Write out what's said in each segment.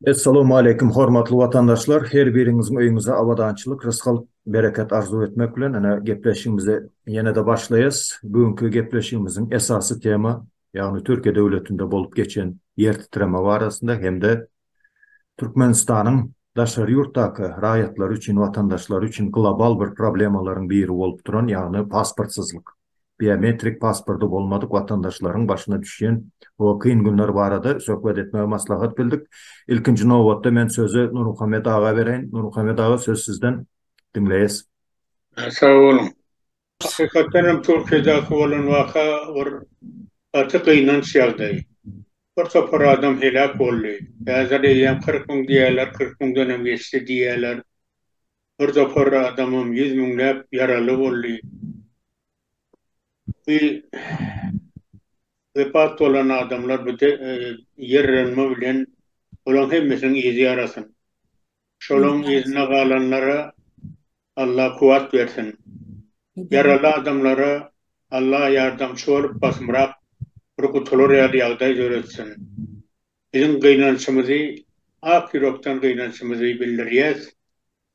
Essalawmaleýkim hormatly watandaşlar her biriňiziň öýüňize abadançylyk rysgal bereket arzuw etmek bilen ene gepleşigimize ýenede başlaýas bu günki gepleşigimiziň esasy tema ýagny türkiýe döwletinde bolup geçen ýer titreme barasynda hem-de Türkmenistanyň daşary ýurtdaky raýatlary üçin, watandaşlary üçin global bir problemalaryň biri bolup duran, ýagny pasportsyzlyk, biometrik pasporty bolmadyk watandaşlaryň başyna düşýän o kyn günler barada söhbet etmegi maslahat bildik. Ilkinji nobatda men sözi Nurmuhammet aga bereýin. Nurmuhammet aga, söz sizden. Diňleýäs. Sag boluň. Hakykatdan hem Türkiýedäki bolan waka bir gaty gynanç ýagdaý. Bir topar adam heläk boldy. Häzir eýýäm kyrk müň diýýärler, kyrk müňden hem geçdi diýýärler. Bir topar adamam ýüz müňläp ýaraly boldy. Bu wepat bolan adamlar bu ýerrenme bilen olaň hemmesiniň yzy ýarasyn. Şolaň yzyna galanlara Allah kuwat bersin. Ýaraly adamlara Allah ýardamçy bolup basymrak bir gutular ýaly ýagdaý döretsin. Biziň gynançymyzy ak ýürekden gynançymyzy bildirýäs.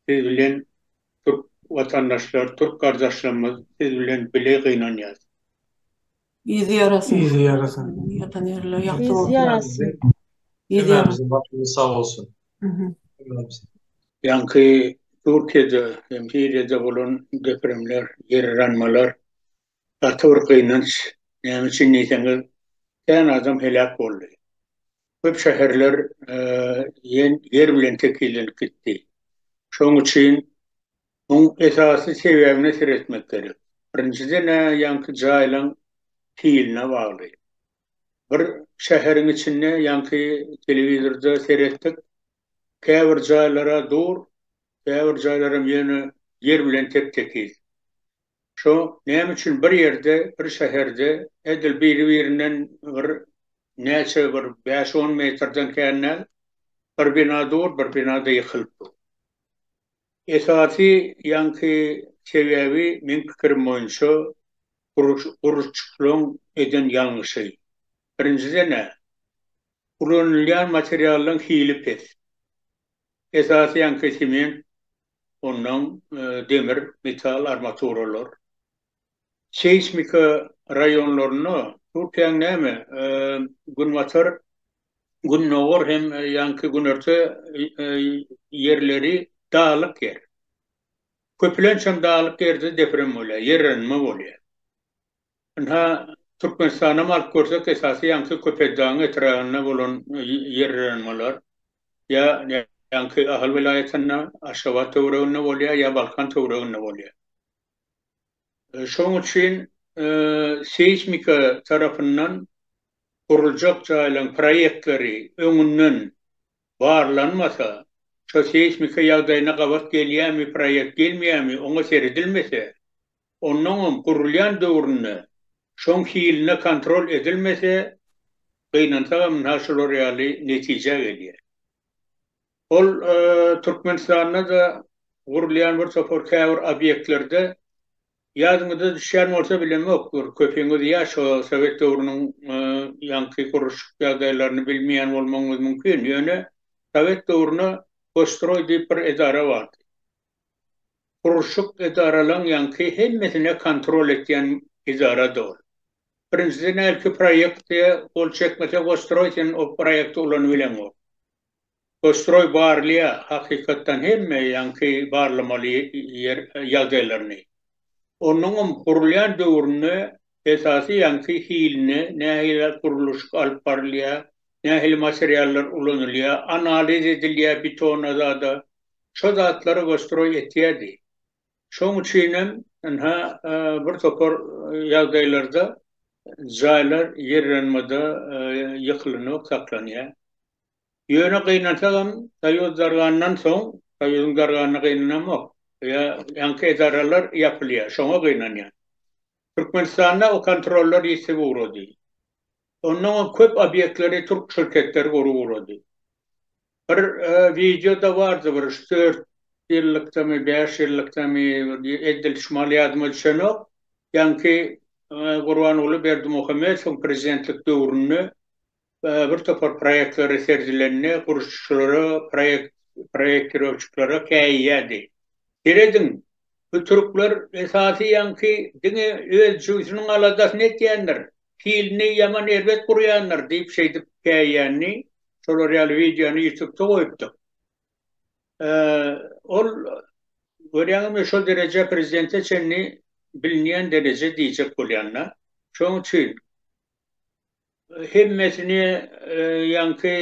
Siz bilen türk watandaşlar, türk gardaşlarymyz siz bilen bile gynanýas. Yzy ýarasyn. Yzy ýarasyn. Ýatan ýerleri ýagty bolsun. Yzy ýarasyn. Yzy ýarasyn. Başymyz sag bolsun. Ýaňky Türkiýede hem Siriýada bolan depremler, ýerranmalar gaty bir gynanç. Näme üçin diýseňiz, kän adam heläk boldy. Köp şäherler ýer bilen tekizlenip gitdi. Şonuň üçin Muň esasy sebäbine seretmek gerek. Birinjiden-ä ýaňky jaýlaň hiline bagly. Bir şäheriň içinde ýaňky telewizorda seretdik, käbir jaýlar-a dur, käbir jaýlaram ýöne ýer bilen tep-tekiz. Şo näme üçin bir ýerde, bir şäherde edil biri-birinden bir näçe bir bäş-on metrden kän däl, bir bina dur, bir bina-da ýykylyp dur. Esasy ýaňky sebäbi meň pikirim boýunça gurluşykçylaryň eden ýalňyşy. Birinjiden-ä, ulanylýan materiallaryň hili pes. Esasy ýaňky sement, onnoň demir, metal armaturalar. Seýsmika raýonlarynda Türkiýäň näme Günbatar, Gündogar hem ýaňky Günerte ýerleri daglyk ýer. Köpülençem daglyk ýerde deprem bolýar, ýerrenme bolýar. Ynha Türkmenistan hem alyp görsek esasy ýaňky Köpetdagyň etrabynda bolan ýerrenmeler ýa ýaňky Ahal welaýatynda, Aşgabat töwereginde bolýar ýa Balkan töwereginde bolýar. Şonuň üçin seýsmika tarapyndan guruljak jaýlaryň proýektleri öňünden barlanmasa, şo seýsmika ýagdaýyna gabat gelýärmi, proýekt gelmeýärmi, oňa seredilmese, onnoňam gurulýan döwründe şoň hiline kontrol edilmese, gynansagam munha şular ýaly netijä gelýär. Ol Türkmenistanda-da gurulýan bir topar käbir obýektlerde, ýadyňyza düşýän bolsa bilemok, bir köpiňiz ýaş o sowet döwrüniň ýaňky gurluşyk ýagdaýlaryny bilmeýän bolmagyňyz mümkin, ýöne sowet döwründe Gosstroý diýip bir edara bardy. Gurluşyk edaralaň ýaňky hemmesine kontrol etýän edarady ol. Birinjiden hälki proýekte gol çekmese Gosstroý sen o proýekti ulanybileňok. Goşstroý barlaýar hakykatdan hemme ýaňky barlamaly ýer ýagdaýlaryny. Onuňam gurulýan döwründe esasy ýaňky hilini, nähili gurluşyk alyp barylýar, nähili materiallar ulanylýar, analiz edilýär bitona zada. Şo zatlary goşstroý etýärdi. Şoň üçinem ynha bir topar ýagdaýlarda jaýlar ýerýanmada ýykylanok saklanýar. Ýöne gynansagam, Soýuz dargandan soň, Soýuzyň darganyna gynanamok, ýa ýaňky edaralar ýapylýar, şoňa gynanýan. Türkmenistanda o kontrollar ýitip ugrady. Onnoňam köp obýektleri türk şirketleri gurup ugrady. Bir wideo-da bardy, bir üç-dört ýyllykdamy, bäş ýyllykdamy, edil şumal ýadyma düşenok, ýaňky Gurbanguly Berdimuhamedowyň prezidentlik döwründe Bir topar proýektleri seredilende gurluşyçylara, proýektirowçyklara käýýärdi. Serediň, bu türkler esasy ýaňky diňe öz jüýsüniň aladasyny etýändir, hilini ýaman erbet gurýandyr diýip şeýdip käýýänini, şolar ýaly wideony ýutubda goýupdyk. Ol görýäňizmi şol dereje prezidente çenli bilinýän dereje diýjek bolýan-da. Şoň üçin hemmesini ýaňky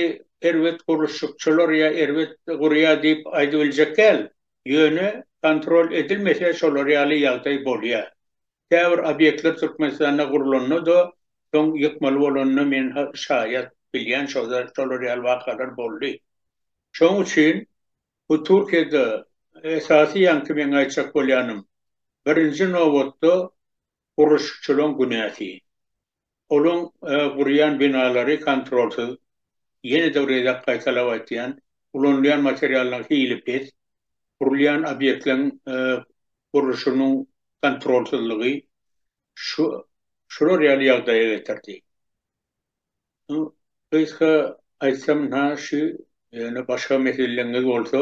erbet gurluşykçylar ýa erbet gurýar diýip aýdyp biljek däl, ýöne kontrol edilmese şolar ýaly ýagdaý bolýar. Käbir obýektler Türkmenistanda gurlanda-da soň ýykmaly bolanda men şaýat bilýän şolar ýaly wakalar boldy. Şoň üçin bu Türkiýede esasy ýaňky meň aýtjak bolýanym birinji nobatda gurluşykçylaryň günäsi. Olaryň gurýan binalary kontrolsyz, ýene-de bir gezek gaýtalap aýtýan, ulanylýan materiallaryň hili pes, gurulýan obýektleriň gurluşygynyň kontrolsyzlygy şu şular ýaly ýagdaýa getirdi. Nu, gysga aýtsam, na şu ýöne başga meseleleriňiz bolsa,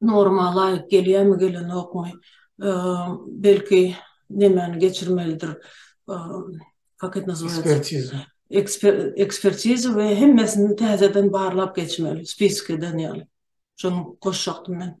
norma laýyk gelýärmi gelenokmy belki nemäni geçirmelidir kak et nazywaýatsa ekspertiza we hemmesini täzeden barlap geçmeli spisk eden ýaly şony goşjakdym men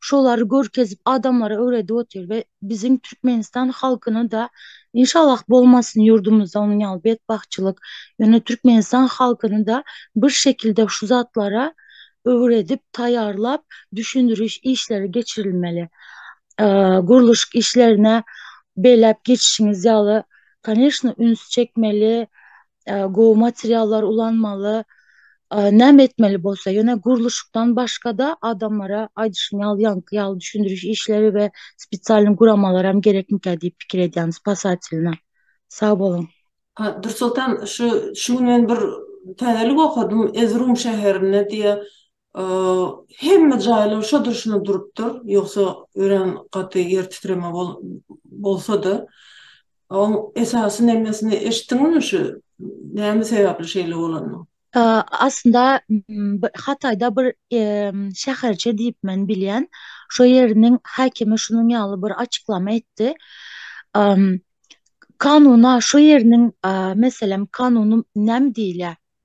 şolary görkezip adamlara öwredip otyr we biziň Türkmenistan halkyna da inşallah bolmasyn ýurdumyzda onuň ýaly betbagtçylyk ýöne Türkmenistan halkyny da bir şekilde şu zatlara öwredip taýýarlap düşündiriş işleri geçirilmeli gurluşyk işlerine beýläp geçişiňiz ýaly koneşno üns çekmeli gowy materiallar ulanmaly, näme etmeli bolsa, ýöne gurluşykdan başga-da adamlara aýdyşym ýaly ýaňky ýaly düşündiriş işleri we spesialnyý guramalaram gerekmikä diýip pikir edýän spasatelna. Sag boluň. Dursoltan şu şu gün men bir täzelik okadym Ezrum şäherinde diýe Hemme jaýlar şo durşuna durupdyr, ýogsa örän gaty ýer titreme bolsa-da, oň esasy nemesini eşitdiňizmi şu näme sebäpli şeýle bolanyny? Aslynda Hataýda bir şäherçe diýip men bilýän, şo ýeriniň häkimi şunuň ýaly bir açyklama etdi, Kanuna şo ýeriniň meselem kanuny näme diýilýär?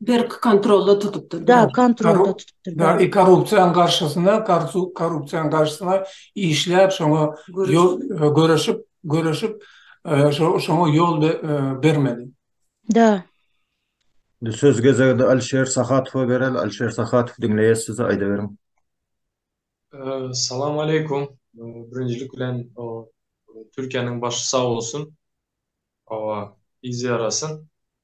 Berk kontrolda tutup durdy. Da, kontrolda tutup durdy. Da, korrupsiýanyň garşysyna, korrupsiýanyň garşysyna işläp, şoňa göreşip, göreşip, şoňa ýol bermedi. Da. Indi söz gezegini Alişer Sahatowa bereli. Alişer Sahatow, diňleýäs sizi, aýdyberiň. Salam aleýkum. Birinjilik bilen, Türkiýäniň başy sag bolsun. Hawa, yz ýarasyn.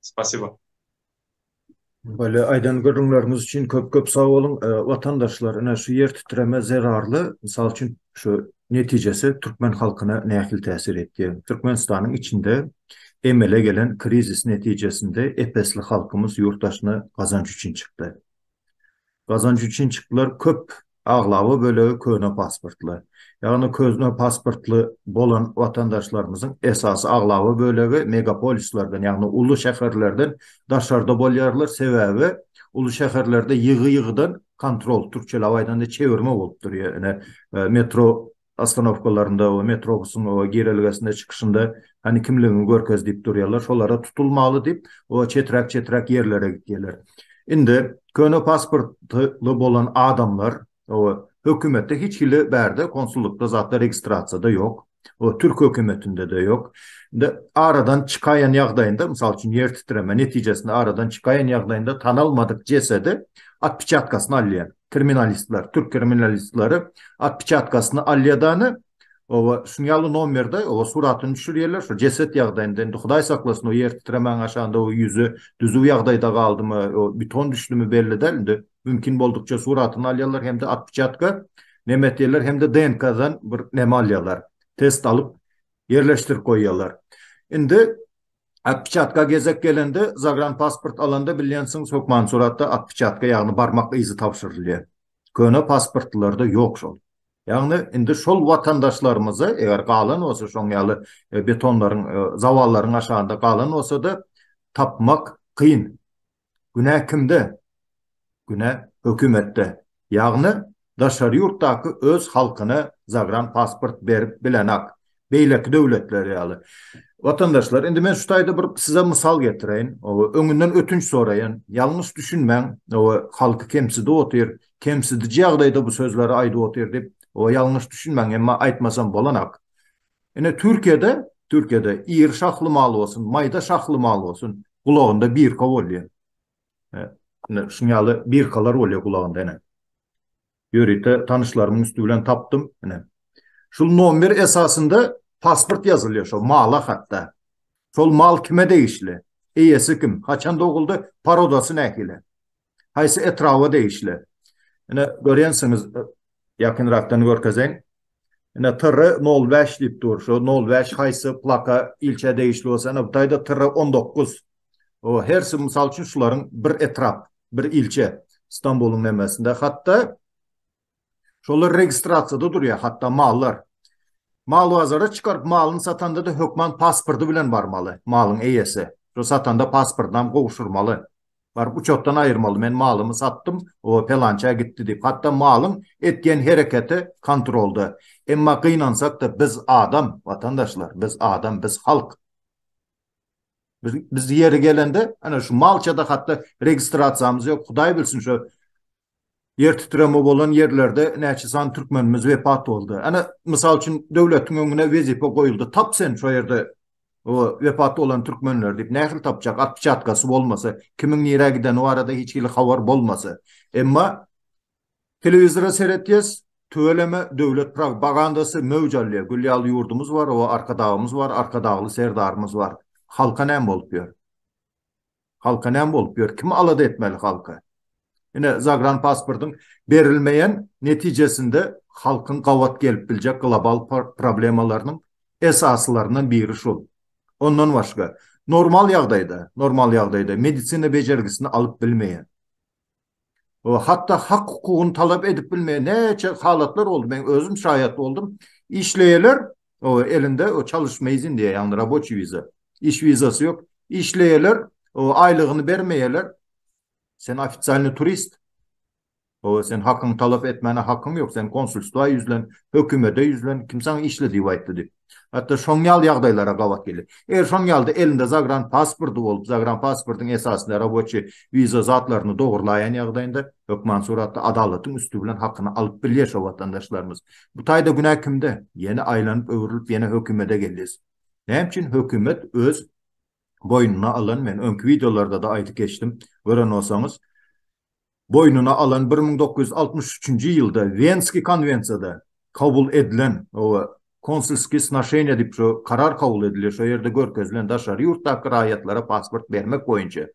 Spasibo. Bolýa aýdan gürrüňleriňiz üçin köp köp sag boluň. Watandaşlar ine şu ýer titreme zerarly mysal üçin şu netijesi türkmen halkyna nähili täsir etýär. Türkmenistanyň içinde emele gelen krizis netijesinde ep-esli halkymyz ýurt daşyna gazanç üçin çykdy. Gazanç üçin çyklar köp, aglaba bölegi köne pasportly. Ýagny közne pasportly bolan watandaşlarymyzyň esasy aglaba bölegi megapolislerden, ýagny uly şäherlerden daşarda bolýarlar, sebäbi uly şäherlerde ýygy-ýygydan kontrol, türkçeläp aýdanda çewirme bolup durýar. Ine, metro Ostanowkalarynda we metrobusyň o girelgesinde çykyşynda hany kimligiňi görkez diýip durýarlar şolara tutulmaly diýip o çeträk çeträk ýerlere gitýärler. Indi köne pasportly bolan adamlar o hökümetde hiç hili bärde konsullykda zatda registrasiýada ýok. O türk hökümetinde-de ýok. Indi aradan çykaýan ýagdaýynda mysal üçin ýer titreme netijesinde aradan çykaýan ýagdaýynda tanalmadyk jesedi atpiçatkasyny alýar. kriminalistler, türk kriminalistleri otpečatkasyny alýadany, oba şuň ýaly nomerde, oba suratyny düşürýärler, şu jeset ýagdaýynda, indi Hudaý saklasyn, o ýer titremäň aşagynda o ýüzi düzüw ýagdaýda galdymy, o beton düşdümi belli däl, indi mümkin boldukça suratyny alýarlar hem-de otpeçatka neme etýärler, hem-de DNK-dan bir neme alýarlar, test alyp ýerleşdirip goýýarlar. Indi Otpeçatka gezek gelende, zagranpasport alanda bilýänsiňiz, hökman suratda otpeçatka, ýagny barmak yzy tabşyrylýar. Köne pasportlylarda ýok şol. Ýagny indi şol watandaşlarymyza, eger galan bolsa, şoň ýaly betonlaryň, zawallaryň aşagynda galan bolsa-da, tapmak kyn. Günä kimde? Günä hökümetde. Ýagny daşary ýurtdaky öz halkyna zagran pasport berip bilenak. Beýleki döwletler ýaly. Watandaşlar indi men şu taýda bir size mysal getireýin. Oba öňünden ötünç soraýan. Ýalňyş düşünmäň. Oba halky kemsidip otyr. Kemsidiji ýagdaýda bu sözleri aýdyp otyr diýip oba ýalňyş düşünmäň emma aýtmasam bolanak. Ine Türkiýede, Türkiýede iri şahly mal bolsun, maýda şahly mal bolsun, gulagynda birka bolýar. Ine şuň ýaly birkalar bolýar gulagynda ine. Ýörite tanyşlarymyň üsti bilen tapdym, ine. Şul nomer esasynda pasport ýazylýar şo mala hatda. Şol mal kime degişli? Eýesi kim? Haçan doguldy? Parodasy nähili? Haýsy etraba degişli? Ine, görýänsiňiz, ýakynrakdan görkezeýin. Ine, TR nol bäş diýip dur. Şu nol bäş haýsy plaka, ilçä degişli bolsa, ine, bu taýda TR on dokuz. O, hersi, mysal üçin, şularyň bir etrap, bir ilçe. Stambulyň nemesinde. Hatda, Şolar registrasiýada durýar, hatda mallar. Mal bazara çykaryp, malyny satanda-da hökman pasporty bilen barmaly, malyň eýesi. Şo satanda pasportynam gowşurmaly. Baryp uçotdan aýyrmaly, men malymy satdym, o pelançä gitdi diýip. Hatda malyň etýän hereketi kontrolda. Emma gynansak-da, biz adam, watandaşlar, biz adam, biz halk. Biz ýeri gelende, ana şu malça-da hatda registrasiýamyz ýok. Hudaý bilsin, şo Ýer titreme bolan ýerlerde näçe sany türkmenimiz wepat boldy? Ana, mysal üçin, döwletiň öňüne wezipe goýuldy, tap sen şo ýerde wepat bolan türkmenleri diýip, nähili tapjak? Atpiçatkasy bolmasa, kimiň nirä gideni barada hiç hili habar bolmasa. Emma telewizora seretýäs, tüweleme döwlet progpagandasy möwç alýar. Gül ýaly ýurdumyz bar, o Arkadagymyz bar, Arkadagly Serdarymyz bar. Halka näme bolup ýör? Halka näme bolup ýör? Kim alada etmeli halky? Ine, zagran pasportyň berilmeýän netijesinde halkyň gabat gelip biljek global problemalarynyň esasylaryndan biri şul. Ondan başga, normal ýagdaýda, normal ýagdaýda medisina bejergisini alyp bilmeýän, we hatda hak-hukugyny talap edip bilmeýän näçe halatlar boldy, men özüm şaýat boldum. Işleýärler, elinde çalyşma izin diýýär, ýagny raboçi wiza, iş wizasy ýok. Işleýärler, aýlygyny bermeýärler. Sen ofisialny turist. Sen hakyňy talap etmäne hakyň ýok, sen konsulstwa ýüzlen, hökümede ýüzlen, kim saňa işle diýip aýtdy diýip. Hatda şoň ýaly ýagdaýlara gabat gelýär. Eger şoň ýalyda elinde zagran pasporty bolup, zagran pasportyň esasynda roboçi wiza zatlaryny dogurlaýan ýagdaýynda, hökman suratda adalatyň üsti bilen hakyny alyp bilýär şo watandaşlarymyz. Bu taýda günä kimde? Ýene aýlanyp öwrülip ýene hökümede gelýäs. Näme üçin hökümet öz boýnuna alan, men öňki wideolarda-da aýdyp geçdim, gören bolsaňyz, boýnuna alan bir müň dokuz ýüz altmyş üçünji ýylda Wenski konwensiýada kabul edilen we konsulskiý snaşeniýa diýip şu karar kabul edilýär, şo ýerde görkezilen daşary ýurtdaky raýatlara pasport bermek boýunça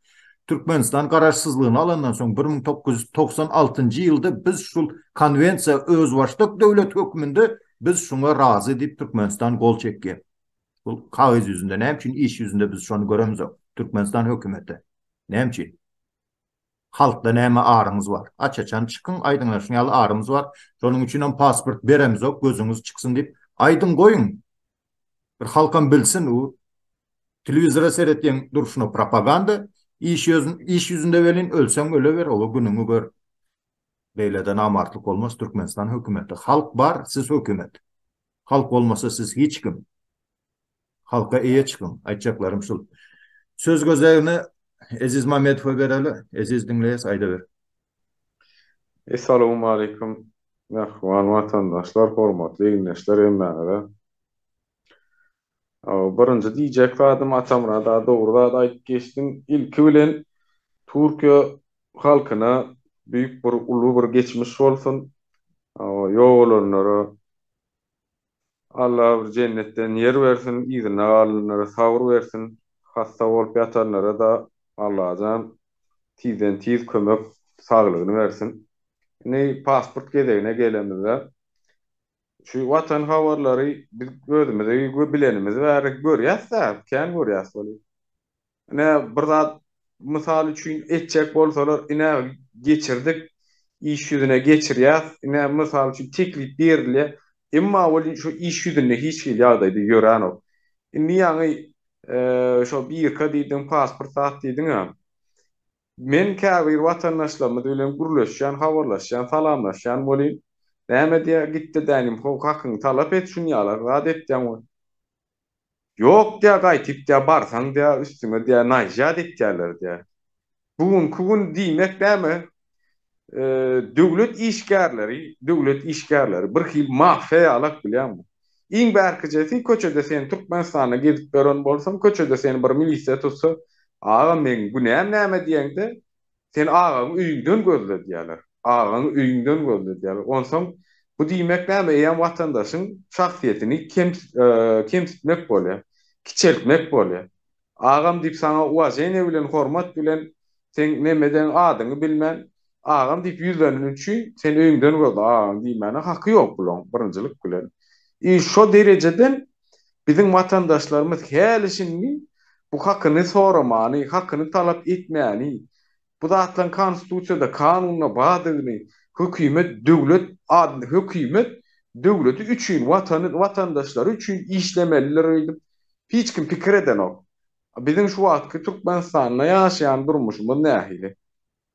Türkmenistan garaşsyzlygyny alandan soň bir müň dokuz ýüz togsan altynjy ýylda biz şul konwensiýa özbaşdak döwlet hökmünde biz şuňa razy diýip Türkmenistan gol çekýär. Bul kagyz ýüzünde näme üçin iş ýüzünde biz şony göremizok Türkmenistan hökümeti näme üçin? Halkda näme aryňyz bar? Aç-açan çykyň, aýdyňlaşyň ýaly aryňyz bar. Şonuň üçinem pasport beremizok, gözüňiz çyksyn diýip, aýdyň goýuň. Bir halkam bilsin, u telewizora seretýän durşuna propaganda, iş ýozün, iş ýüzünde welin ölseň öleber, oba günüňi gör. Beýlede namartlyk bolmaz, Türkmenistan hökümeti, halk bar, siz hökümet. Halk bolmasa siz hiç kim. Halka eýe çykyň. Aýtjaklarym şul. Söz gözegini Eziz Mamedowa bereli. Eziz diňleýäs, aýdaber. Essalawmaleýkum mähriban watandaşlar hormatly ildeşler hemmäňize Birinji diýjek zadym Atamyrat aga dogry zat aýdyp geçdiň. Ilki bilen Türkiýe halkyna büýük bir uly bir geçmiş bolsun. Ýok olanlara Alla bir jennetden ýer bersin, yzynda galanlara sabyr bersin, hassa bolup ýatanlara-da Allajan tizden tiz kömek saglygyny bersin. Indi pasport gezegine gelemizde Şu watan habarlary biz özümizi we bilenimiz bäri görýäs-dä, kän görýäs weli. Ine, bir zat, mysal üçin, etjek bolsalar, ine, geçirdik, iş ýüzüne geçirýäs, ine, mysal üçin, teklip berilýär. Emma weli şu iş ýüzünde hiç hili ýagdaýda ýöränok. Indi ýaňy şo birka diýdiň, pasport sat diýdiň-ä. Men käbir watandaşlarymyz bilen gürleşýän, habarlaşýan, salamlaşýan welin, näme diýýär, gitde dänim ho, hakyňy talap et, şun ýalar zat etýäň we. Ýok diýýär, gaýtyp diýýär, barsaň diýýär, üstüňe diýýär, naýja dikýärler diýýär. Bu günki gün diýmek näme? Döwlet işgärleri, döwlet işgärleri bir hil mafiýa ýaly ak bilýäňmi? Iň bärkijesi köçede sen Türkmenistanda gezip ýören bolsaň, köçede seni bir milisiýa tutsa, Aga meň günäm näme diýeňde, Sen agaňy öýüňden gözle diýerler. Agaňy öýüňden gözle diýerler. Onsoň bu diýmek näme eýýäm watandaşyň şahsyýetini kemsitmek bolýar, kiçeltmek bolýar. Agam diýip saňa uwazeniýe bilen hormat bilen seň nemedeň adyňy bilmän agam diýip ýüzleneni üçin sen öýüňden göz agam diýmäne haky ýok bulaň birinjilik bilen i şo derejeden biziň watandaşlarymyz häli şindi bu hakyny soramany hakyny talap etmäni Bu zatlaryň konstitusiýada, kanunda bardygyny, hökümet döwlet adyny, hökümet döwleti üçin, watany, watandaşlary üçin işlemelidir öýdüp hiç kim pikir edenok. Biziň şu wagtky Türkmenistanda ýaşaýan durmuşymyz nähili?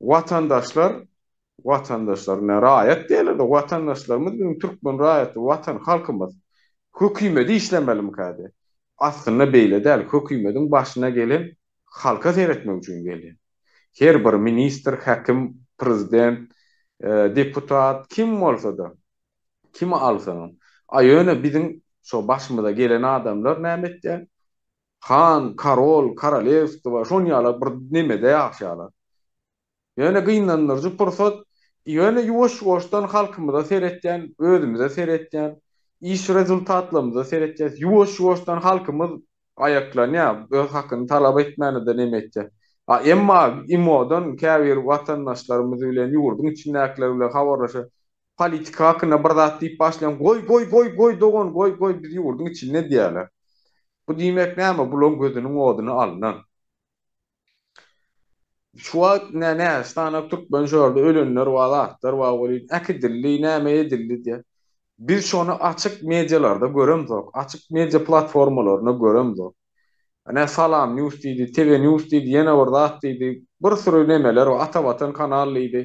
Watandaşlar, watandaşlar ine raýat diýerler-de, watandaşlarymyz biziň türkmen raýaty, watan, halkymyz hökümedi işlemelimikä diýýär. Aslynda beýle däl, hökümediň başyna gelen halka seretmek üçin gelýän. Her bir ministr, häkim, prezident, deputat kim bolsa-da, kimi alsaňam. A ýöne biziň şo başymyza gelen adamlar näme etýär? Han, karol, korolewstwo şon ýaly bir nemede ýaşaýarlar. Ýöne gynandyryjy pursat, ýöne ýuwaş-ýuwaşdan halkymyza seretýän, özümize seretýän, iş rezultatlarymyza seretýäs. Ýuwaş-ýuwaşdan halkymyz aýaklanýar, öz hakyny talap etmäne-de nem etýär. A emma IMO-dan käbir watandaşlarymyz bilen, ýurduň içindäkiler bilen habarlaşan, politika hakynda bir zat diýip başlaýan, Goý, goý, goý, goý, dogan, goý, goý, biz ýurduň içinde diýýärler. Bu diýmek näme, bulaň gözüniň oduny alnan. Şu wagt nä näz tanak türkmen şordy ölenler bar zatlar bar welin äkidildi näme edildi diýä. Biz şony açyk medialarda göremzok açyk media platformalarynda göremzok. Nä salam news diýdi tv news diýdi ýene bir zat diýdi bir süri nemeler bar ata watan kanal diýdi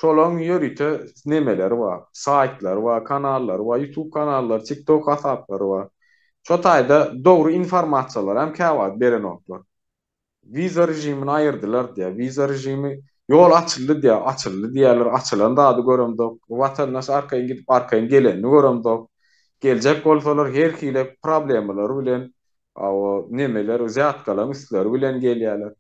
şolaň ýörite nemeleri bar saýtlary bar kanallary bar ýutub kanallary tik tok hasaplary bar şo taýda dogry informasiýalaram käwagt berenoklar. Wiza režimini aýyrdylar diýýär. Wiza režimi ýol açyldy diýýär, açyldy diýýärler, açylan zady göremzok. Watandaş arkaýyn gidip arkaýyn gelenini göremzok. Geljek bolsalar her hile problemalar bilen o nemeler wzýatkalaň üstleri bilen gelýärler.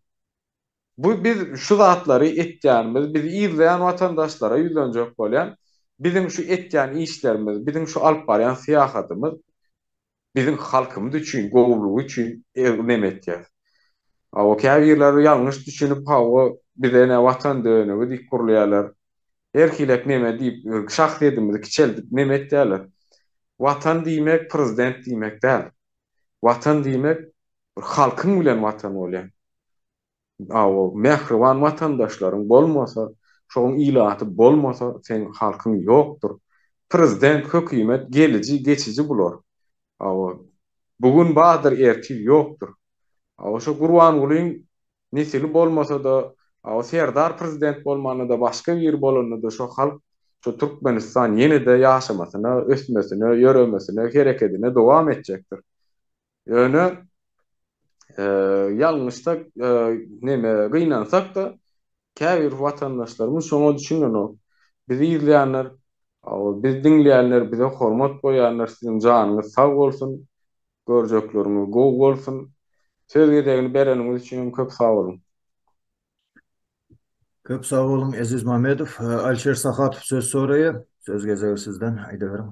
Bu biz şu zatlary etýänimiz bizi yzlaýan watandaşlara ýüzlenjek bolýan biziň şu etýän işlerimiz biziň şu alyp barýan syýahatymyz Biziň halkymyz üçin gowulygy üçin egnm etýäs. Hawa käbirleri ýalňyş düşünip hawa bize ne watan dönügi diýip gurlaýarlar. Her hilek neme diýip şahsyýetimizi kiçeldip neme etýärler. Watan diýmek prezident diýmek däl. Watan diýmek bir halkyň bilen watan bolýar. Awo mähriban watandaşlaryň bolmasa şoň ilaty bolmasa seň halkyň ýokdur. Prezident hökimet geliji geçiji bular. Awo bu gün bardyr ertir ýokdur. Awo şo gurbangulyň nesili bolmasada awo serdar prezident bolmanada başga biri bolanada şo halk şo türkmenistan ýenede ýaşamasyna ösmesine ýöremesine herekedine dowam etjekdir. Ýöne ýalňyşsak, neme, gynansak-da, käbir watandaşlarymyz şoňa düşünenok. Bizi ýzleýänler, bizi diňleýänler, bize hormat goýýanlar siziň janyňyz sag bolsun, görjekleriňiz gowy bolsun. Söz gezegini bereniňiz üçin hem köp sag boluň. Köp sag boluň, Eziz Mamedow. Alişer Sahatow söz soraýar. Söz gezegi sizden, aýdyberiň.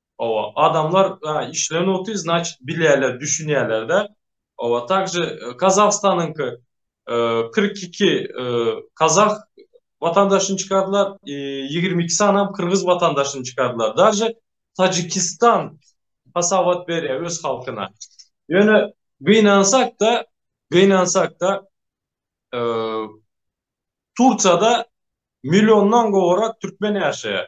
Oba adamlar işlerini otyr znaçit bilýärler düşünýärlerde oba takže kazahstanyňky kyrk iki kazah watandaşyny çykardylar i ýigrimi iki sanam kyrgyz watandaşyny çykardylar daže tajikistan hasabat berýär öz halkyna ýöne gynansakda gynansakda tursiýada milliondan gowrak türkmen ýaşaýar.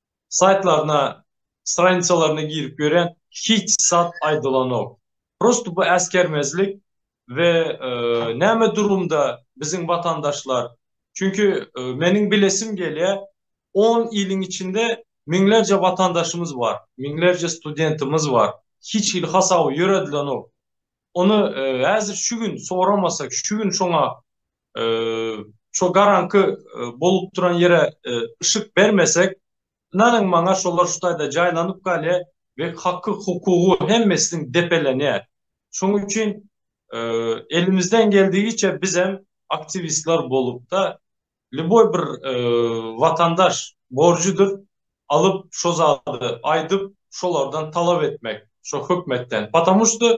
saýtlaryna stranicalaryna girip görýän hiç zat aýdylanok prosto bu äsgermezlik we näme durumda biziň watandaşlar çünki meniň bilesim gelýä on iliň içinde miňlerje watandaşymyz bar miňlerje studentimiz bar hiç hili hasaby ýöredilenok ony häzir şu gün soramasak şu gün şoňa Şo garaňky bolup duran ýere yşyk bermesek, ynanyň maňa şolar şu taýda jaýlanyp galýar we haky hukugy hemmesiniň depelenýär. Şonuň üçin elimizden geldigiçe biz hem aktiwistler bolupda lýuboý bir watandaş borjudyr alyp şo zady aýdyp şolardan talap etmek şo hökmetden. Patamušto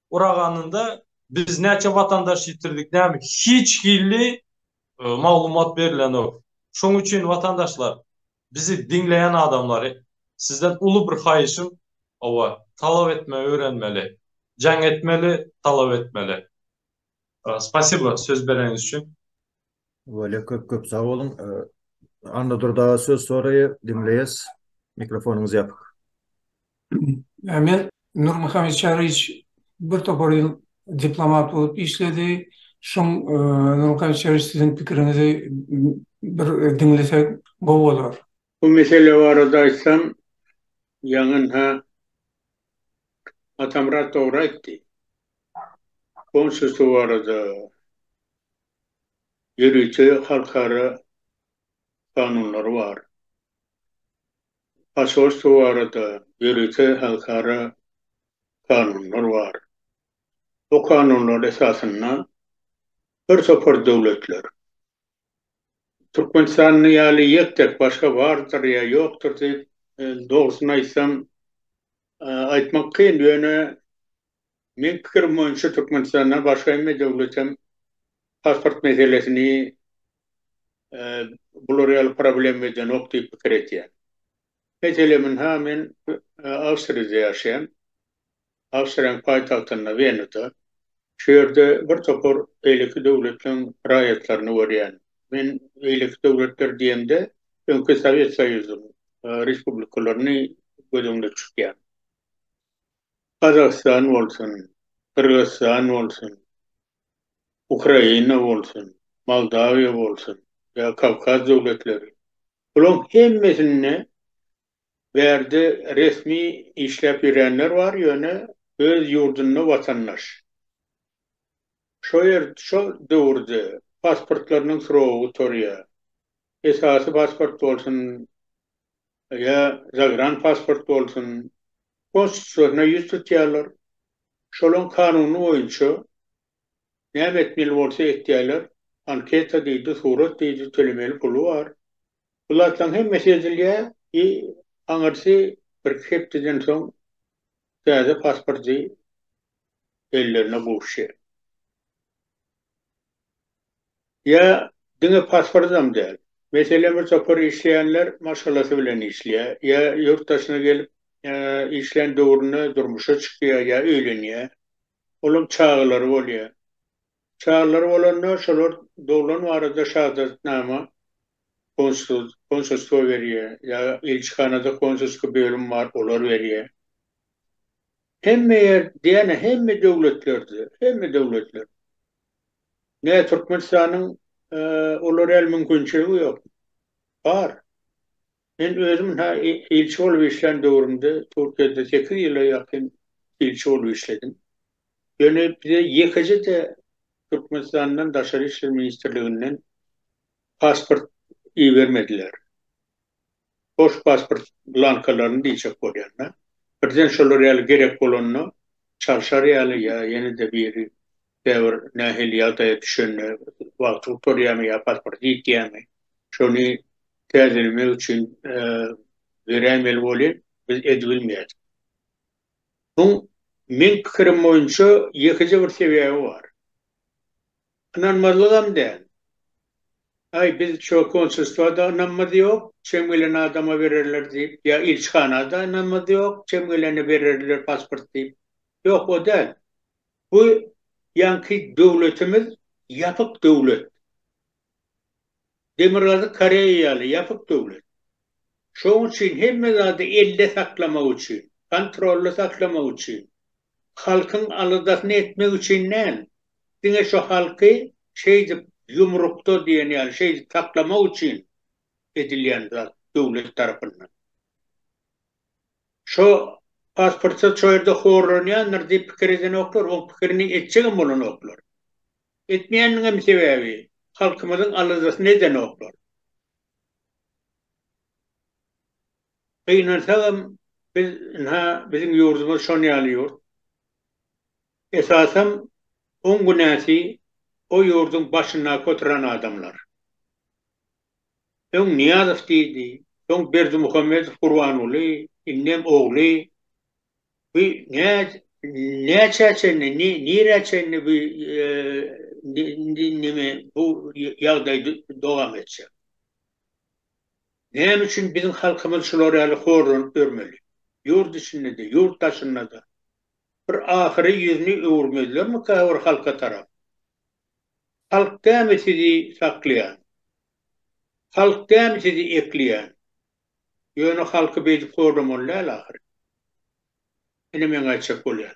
Uraganynda biz näçe watandaş ýitirdik näme hiç hilli maglumat berilenok. Şoň üçin watandaşlar bizi diňleýän adamlary sizden uly bir haýyşym owa talap etme öwrenmeli jaň etmeli talap etmeli. Spasiba söz bereňiz üçin. Bolýa köp köp sag boluň. Anna Durdaba söz soraýa diňleýäs. Mikrofonyňyz ýapyk. Men Nurmuhammet Çariç bir topar ýyl diplomat bolup işledi. Şoň Nurmuhammet Çariç siziň pikiriňizi bir diňlesek gowy bolar. Bu mesele barada aýtsam, ýaňynha Atamyrat dogry aýtdy. Konsulstwo barada ýörite halkara kanunlary bar. Posolstwo barada ýörite halkara kanunlar bar. Bu kanunlar esasynda birtopar döwletler Türkmenistanda ýaly ýek-tek başga bardyr ýa ýokdur diýip, dogrusyny aýtsam, aýtmak kyn. Ýöne, meň pikirim boýunça Türkmenistandan başga hemme döwlet hem pasport meselesini bular ýaly problema edenok diýip pikir edýän. Mesele, mn-ha, men Awstriýada ýaşaýan. Awstriýanyň paýtagtynda Wenada. Şu ýerde bir topar beýleki döwletleriň raýatlaryny görýän. Men beýleki döwletler diýemde, öňki Sowet Soýuzynyň respublikalaryny göz öňüne tutýan. Gazagystan bolsun, Gyrgyzystan bolsun, Ukraina bolsun, Moldawiýa bolsun ýa Kawkaz döwletleri. Bularyň hemmesinde Bärde resmi işläp ýöränler bar, ýöne öz ýurdunda watandaş. Şo ýer, şo döwürde pasportlarynyň srogy gutarýar. Esasy pasport bolsun ýa zagran pasport bolsun, konsulstwasna ýüz tutýarlar. Şolaň kanuny boýunça Näme etmeli bolsa etýäler, anketa diýdi, surat diýdi, tölemeli puly bar. Bu zatlaryň hemmesi edilýä i aňyrsy birki hepdeden soň täze pasporty ellerine gowuşýa. Ýa diňe pasportam däl, meselem bir topar işleýänler maşgalasy bilen işleýä, ýa ýurt daşyna gelip işlän döwründe durmuşa çykýa ýa öýlenýä. Olaň çagalary bolýar. Çagalary bolanda şolar doglan barada şahadatnama konsulstwo berýär, ýa ilçihanada konsulski bölüm bar, olar berýär. Hemme ýer diýýän hemme döwletlerde, hemme döwletler. Näme Türkmenistanyň olara el mümkinçiligi ýok. Bar. Men özüm hä ilçi bolup işlän döwrümde Türkiýede sekiz ýyla ýakyn ilçi bolup işledim. Ýöne bize ýekeje-de Türkmenistandan Daşary işler ministrliginden pasport ibermediler. Boş pasport blankalaryny diýjek bolýan-da. Birden şolar ýaly gerek bolanda çalşar ýaly ýa ýene-de biri käbir nähili ýagdaýa düşende wagty gutarýamy ýa pasporty ýitýämi, şony täzelemek üçin beräýmeli bolýar, biz edibilmeýär. Muň meň pikirim boýunça ýekeje bir sebäbi bar. Ynanmazlygam däl. Aý biz şo konsulstwada ynanmaz ýok, çem gelen adama bererler diýip, ýa ilçihanada ynanmaz ýok, çem gelene bererler pasport diýip. Ýok o däl. Bu ýaňky döwletimiz ýapyk döwlet. Demirgazyk Koreýa ýaly ýapyk döwlet. Şoň üçin hemme zady elde saklamak üçin, kontrolda saklamak üçin, halkyň aladasyny etmek üçin däl, diňe şu halky şeýdip ýumrukda diýen ýaly şeýdip saklamak üçin edilýän zat döwlet tarapyndan. Şo pasportçy şo ýerde horlanýandyr diýip pikir edenoklar, oň pikirini etjegem bolanoklar. Etmeýäniniňem sebäbi, halkymyzyň aladasyny edenoklar. Gynansagam, biz ynha, biziň ýurdumyz şon ýaly ýurt. Esasam, oň günäsi o ýurduň başyndaky oturan adamlar. Öň Nyýazow diýdi, soň Berdimuhamedow Gurbanguly, indem ogly. Bu nä, näçä çenli, nirä çenli bu neme, bu ýagdaý dowam etjek? Näme üçin biziň halkymyz şular ýaly horlanyp ýörmeli? Ýurt içinde-de, ýurt daşynda-da. Bir ahyry ýüzüni öwürmezlermikä bir halka tarap? Halk dämi sizi saklaýan? Halk dämi sizi ekleýän? Ýöne halky beýdip horlamaly däl ahyryn. Ine meň aýtjak bolýan.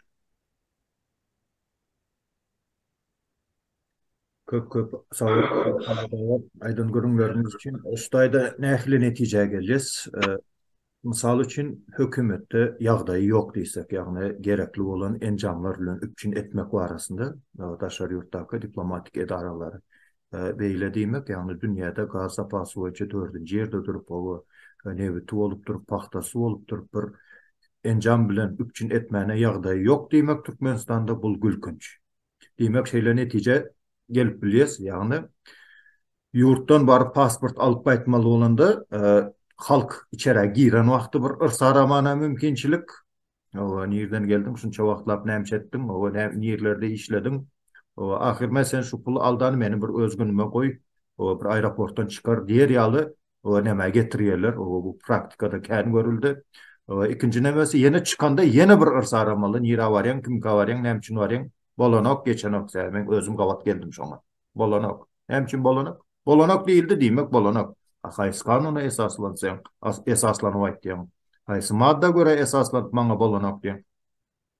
Köp köp sagboluň aýdan gürrüňleriňiz üçin. Şu taýda nähili netijä gelýäs? Mysal üçin, hökümetde ýagdaýy ýok diýsek, ýagny gerekli bolan enjamlar bilen üpjün etmek barasynda daşary ýurtdaky diplomatik edaralary beýle diýmek, ýagny dünýäde gaz zapasy boýunça dördünji ýerde durup, hawa, nebiti bolupdyr, pagtasy bolupdyr, bir enjam bilen üpjün etmäne ýagdaýy ýok diýmek Türkmenistanda bul gülkünç. Diýmek, şeýle netijä gelip bilýäs, ýagny ýurtdan baryp pasport alyp gaýtmaly bolanda, halk içerä giren wagty bir yrsarabana mümkinçilik, hawa, nirden geldiň, şunça wagtlap nämeçe etdiň, hawa, näme, nirlerde işlediň, hawa, ahyryn, men seni şu pul aldany meni bir öz günüme goý, hawa, bir aeroportdan çykar diýer ýaly Olar nämä getirýärler? Oba bu praktikada kän görüldi. Ikinji nebesi ýene çykanda ýene bir yrs aramaly. Nirä barýaň, kimkä barýaň, näme üçin barýaň? Bolanok, geçenok sen. Men özüm gabat geldim şoňa. Bolanok. Näme üçin bolanok? Bolanok diýildi, diýmek bolanok. A haýsy kanuna esaslansaň, esaslanyp aýtýaň? Haýsy madda görä esaslanyp maňa bolanok diýeň?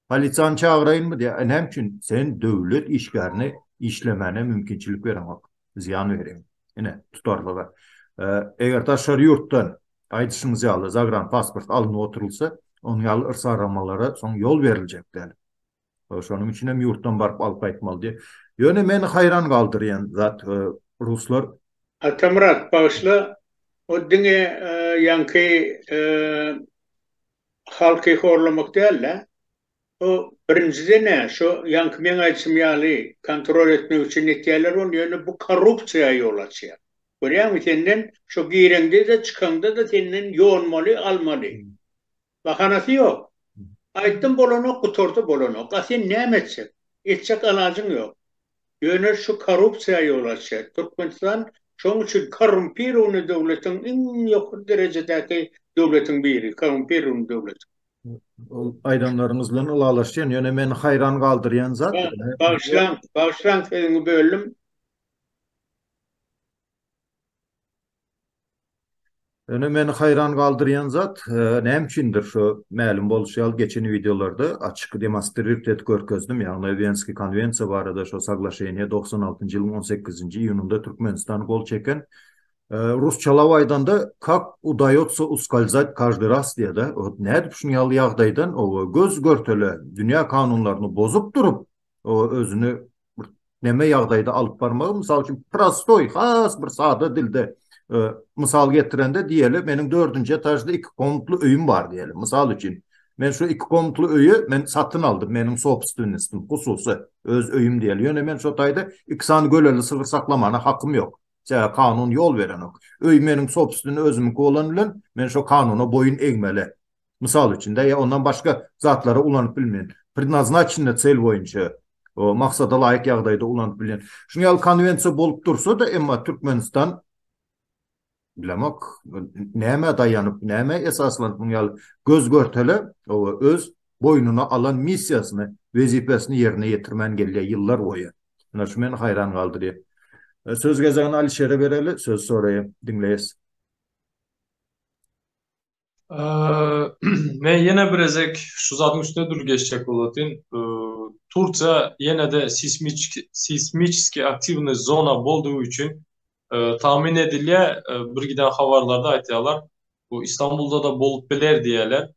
Polisiýany çagyraýynmy diýýär. Näme üçin? Sen döwlet işgärine işlemäne mümkinçilik bereňok. Zyýan bereň. Ine, tutarlygy. Eger daşary ýurtdan, aýdyşyňyz ýaly, zagran pasport alnyp oturylsa, onuň ýaly yrsaramalara soň ýol beriljek däl. Şonuň üçin hem ýurtdan baryp alyp gaýtmaly diýip. Ýöne meni haýran galdyrýan zat, ruslar. Atamyrat, bagyşla, o diňe ýaňky Halky horlamak dälda bu birinjiden-ä şu ýaňky meň aýdyşym ýaly kontrol etmek üçin etýäler ol ýöne bu korrupsiýa ýol açýar. Görýäňmi senden şu gireňde-de çykaňda-da senden ýonmaly almaly. Bahanasy ýok. Aýtdym bolanok gutardy bolanok a sen näme etjek. Etjek alajyň ýok. Ýöne şu korrupsiýa ýol açýar. Türkmenistan şoň üçin korrumpirowny döwletiň iň ýokary derejedäki döwletiň biri, korrumpirowny döwletiň. Ol aýdanlaryňyz bilen ylalaşýan, ýöne meni haýran galdyrýan zat. Bagyşlaň, bagyşlaň sözüňi böldüm. Ýöne meni haýran galdyrýan zat, näme üçindir, şo mälim bolşy ýaly, geçen wideolarda açyk demostrirt edip görkezdim, ýagny Wenskiý konwensiýa barada şo saglaşeniýa togsan altynjy ýylyň on sekizinji iýunynda Türkmenistan gol çeken, rusçalap aýdanda, kak udaýotsa uskalzat každy raz diýýä-de, ot nädip şuny ýaly ýagdaýdan, oba, göz-görtele, dünýä kanunlaryny bozup durup, o özüni näme ýagdaýda alyp barmagy, mysal üçin, prostoý, has bir sada dilde e, mysal getirende diýeli, meniň dördünji etažda iki komnatly öýüm bar diýeli. Mysal üçin, men şu iki komnatly öýi men satyn aldym, meniň sobstvennistim, hususy, öz öýüm diýeli. Ýöne men şu taýda iki sany göleli sygyr saklamana hakym ýok. Sebäbi kanun ýol berenok. Öý meniň sobstvenni özümiňki bolan bilen, men şu kanuna boýun egmeli. mysal üçin-de, ýa ondan başga zatlara ulanyp bilmeýän, prednaznaçenýa çel boýunça, maksada laýyk ýagdaýda ulanyp bilýän, şunuň ýaly konwensiýa bolup dursa-da, emma Türkmenistan, bilemok, nämä daýanyp, nämä esaslanyp munuň ýaly göz-görtele öz boýnuna alan missiýasyny, wezipesini ýerine ýetirmän gelýär ýyllar boýy. Ine, şu meni haýran galdyrýar. Söz gezegini Alişere bereli, söz soraýan, diňleýäs. Men ýene bir gezek şu zadyň üstüne dul geçjek boladyn. Turkiýa ýene-de seismik seismiki aktiwny zona boldugy üçin tahmin edilýär, bir giden habarlarda aýtýarlar. Bu Istanbulda da bolup biler diýýärler.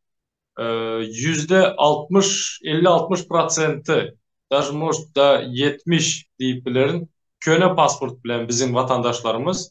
Ýüzde altmyş, elli-altmyş prosenti, daž может da ýetmiş diýip bilerin, köne pasport bilen biziň watandaşlarymyz.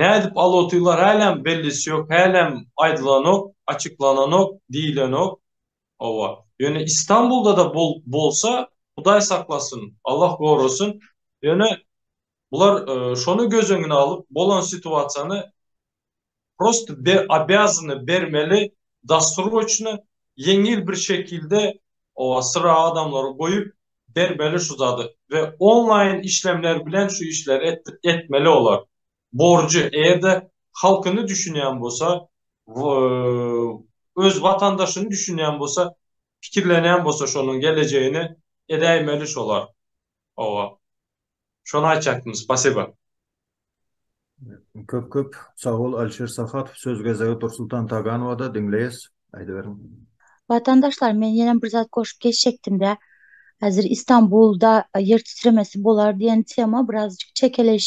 Nädip al otylar hälem bellisi ýok hälem aýdylanok açyklananok diýilenok howa ýöne istanbuldada bolsa hudaý saklasyn Allah gorasyn ýöne bular şony göz öňüne alyp bolan situasiýany prosto be obýazany bermeli dassurgoçny ýeňil bir şekilde o syra adamlary goýup bermeli şu zady we onlaýyn işlemler bilen şu işleri etdirip etmeli olar borjy eýerde halkyny düşünýän bolsa we öz watandaşyny düşünýän bolsa pikirlenýän bolsa şonuň gelejegini edäýmeli şolar. Owa. Şony aýtjakdym, spasiba. Köp köp sagbol Alişer Sahatow söz gezegi Dursultan Taganowada diňleýäs aýdyberiň. Watandaşlar men ýene bir zat goşup geçjekdimdä häzir Istanbulda ýer titremesi bolar diýen tema birazjyk çekeleş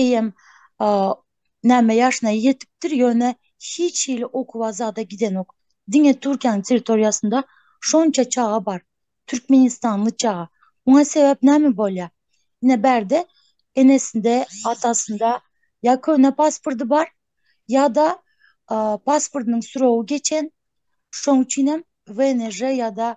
Eýýäm näme ýaşyna ýetipdir, ýöne hiç hili okuwa zada gidenok. Diňe Türkiýäň territoriýasynda şonça çaga bar, türkmenistanly çaga. Muňa sebäp näme bolýar? Ine bärde enesinde, atasynda ýa köne pasporty bar, ýa-da pasportynyň srogy geçen, şoň üçin hem WNJ ýa-da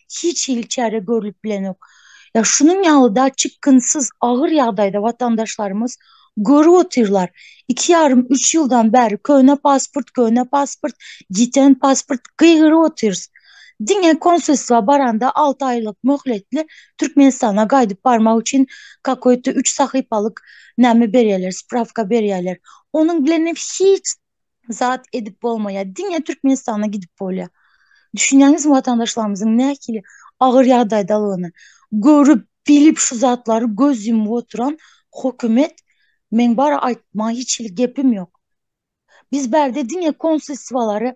hiç hili çäre görlüp bilenok. Ya şunuň ýaly da çykgynsyz agyr ýagdaýda watandaşlarymyz görüp otyrlar. Iki ýarym üç ýyldan bäri köne pasport, köne pasport, giten pasport gygyryp otyrys. Diňe konsulstwa baranda alty aýlyk möhletli Türkmenistana gaýdyp barmak üçin kakoýta üç sahypalyk näme berýärler, sprawka berýärler. Onuň bilenem hiç zat edip bolmaýar. Diňe Türkmenistana gidip bolýar. Düşünýäňizmi watandaşlarymyzyň nähili agyr ýagdaýdalygyny? Görüp, bilip şu zatlary göz ýumup oturan hokumet meň bar aýtmaga hiç hili gepim ýok. Biz bärde diňe konsulstwalary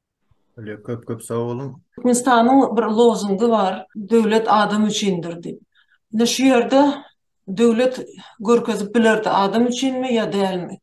Öyle köp köp sag boluň. Türkmenistanyň bir lozungy bar, Döwlet adam üçindir diýip. Ine şu ýerde döwlet görkezip bilerdi adam üçinmi ýa dälmi.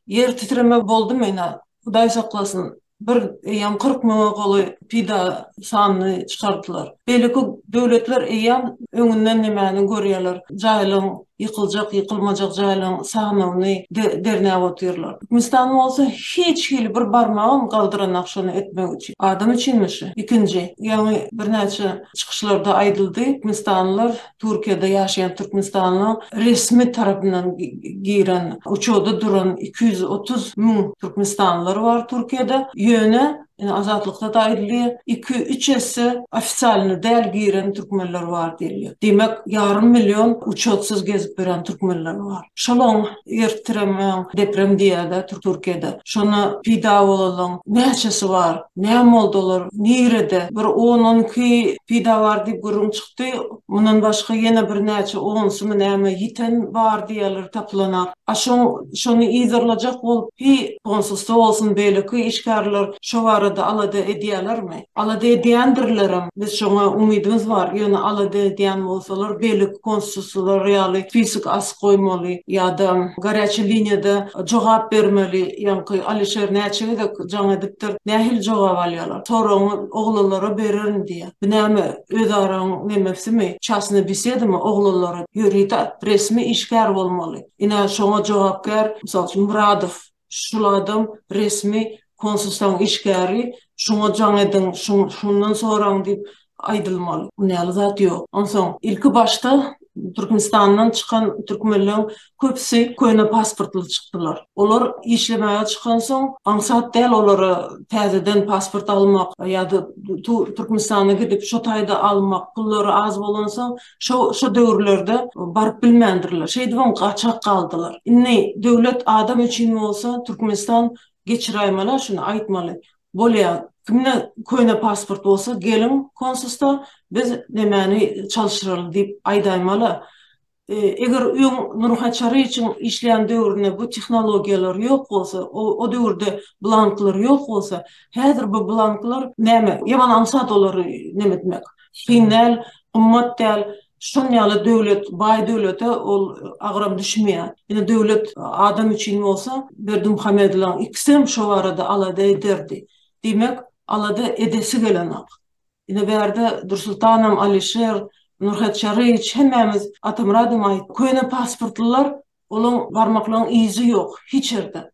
Ýer titreme boldumy ine Hudaý saklasyn bir eýýam kyrk müňe golaý pida sanyny çykardylar. Beýleki döwletler eýýäm öňünden nimäni görýärler jaýlaryň ýykyljak, ýykylmajak jaýlaryň sanawyny derňäp otyrlar. Türkmenistan bolsa hiç hili bir barmagam galdyranok şony etmek üçin. Adam üçinmi şu? Ikinji, ýaňy birnäçe çykyşlarda aýdyldy, türkmenistanlylar Türkiýede ýaşaýan türkmenistanlyň resmi tarapyndan giren uçarda duran iki ýüz otuz müň türkmenistanlylar bar Türkiýede, ýöne Ine azatlykdada aýdylýar, iki, üç esse ofisialny däl giren türkmenler bar diýilýär. Diýmek, ýarym million uçotsyz gezip ýören türkmenler bar. Şolaň ertiremäň deprem diýýädä Türkiýede. Şona pida bolalaň näçesi bar? Näme boldy olar? Nirede? Bir on, on iki pida bar diýip gürrüň çykdy. Mundan başga ýene birnäçe onsmy näme ýiten bar diýýärler tapylanak. A şoň şony yzarlajak bolup hi onsuzda bolsun beýleki işgärler şo barada alada edýälermi? Alada edýändirlerem. Biz şoňa umydymyz bar. Ýöne alada edýän bolsalar beýleki konsulslar ýaly spisok asyp goýmaly ýa-da garýaçy liniýada jogap bermeli. Ýaňky Alişer näçe gezek jaň edipdir. Nähili jogap alýarlar? Soragyňy oglanlara bererin diýýä. Bu näme, özaraň nemesimi, çasny besedymy, oglanlara ýöride, resmi işgär bolmaly. Ine, şoňa jogapkär, mysal üçin, Myradow, şul adam resmi konsulstaň işgäri, şuňa jaň ediň, şundan soraň diýip aýdylmaly. Ony ýaly zat ýok. Onsoň, ilki başda Türkmenistandan çykan türkmenleň köpüsi köne pasportly çykdylar. Olar işlemäge çykansoň, aňsat däl olara täzeden pasport almak ýa-da Türkmenistana gidip, şo taýda almak, pullary az bolansoň, şo şo döwürlerde baryp bilmändirler. Şeýdibem gaçak galdylar. Indi döwlet adam üçin bolsa, Türkmenistan geçiräýmeli-ä şuny, aýtmaly. Bolýa, kimde köne pasport bolsa, geliň konsusda, biz nemäni çalşyraly diýip aýdaýmaly-ä. Eger öň Nurha Çaryçyň işleýän döwründe bu tehnologiýalar ýok bolsa, o döwürde blanklar ýok bolsa, häzir bu blanklar näme? Ýaman aňsat olary neme etmek. Kyn däl, gymmat däl. Şunuň ýaly döwlet, baý döwlete ol agram düşmeýär. Ine, döwlet adam üçin bolsa, Berdimuhamedowyň ikisem şo barada alada ederdi. Diýmek, alada edesi gelenok. Ine bärde Dursultanam, Alişer, Nurhet Çaryýewiç hemmämiz Atamyradam aýtdy. Köne pasportlylar, olaň barmaklaň yzy ýok hiç ýerde.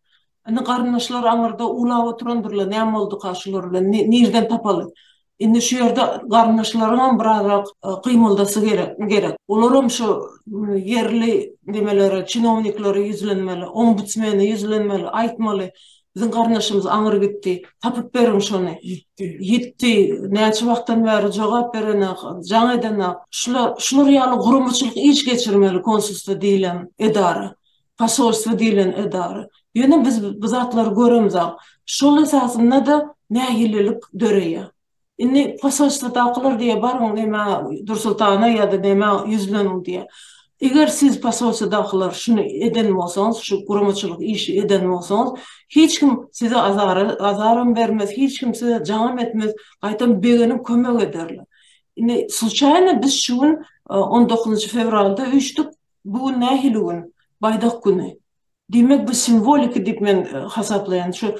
Indi garyndaşlar aňyrda uwlap oturandyrlar, näme bolduka şular bilen, nirden tapaly. Indi şu ýerde garyndaşlaryňam birazrak gymyldasy gerek, gerek. Olaram şu ýerli nimelere, çinowniklere ýüzlenmeli, ombudsmene ýüzlenmeli, aýtmaly. Biziň garyndaşymyz aňry gitdi. Tapyp beriň şony. Ýitdi. Ýitdi. Näçe wagtdan bäri jogap berenak, jaň edenak. Şular, şular ýaly guramaçylyk iş geçirmeli konsulstwo diýlen edara. Posolstwo diýlen edara. Ýöne biz bu zatlary göremzok. Şol esasynda-da nägilelik döreýär. Indi posolstwodakylar diýýär, baryň nämä Dursultana ýa-da nämä ýüzleniň diýýär. Eger siz posolstwodakylar şuny eden bolsaňyz, şu guramaçylyk işi eden bolsaňyz, hiç kim size azara, azaram bermez, hiç kim size jaňam etmez, gaýtam begeniň kömek ederler. Indi sluçaýno biz şu gün on dokuzynjy fewralda üýşdük, bu gün nähili gün? Baýdak güni. Diýmek bu simwoliki diýip men hasaplaýan şu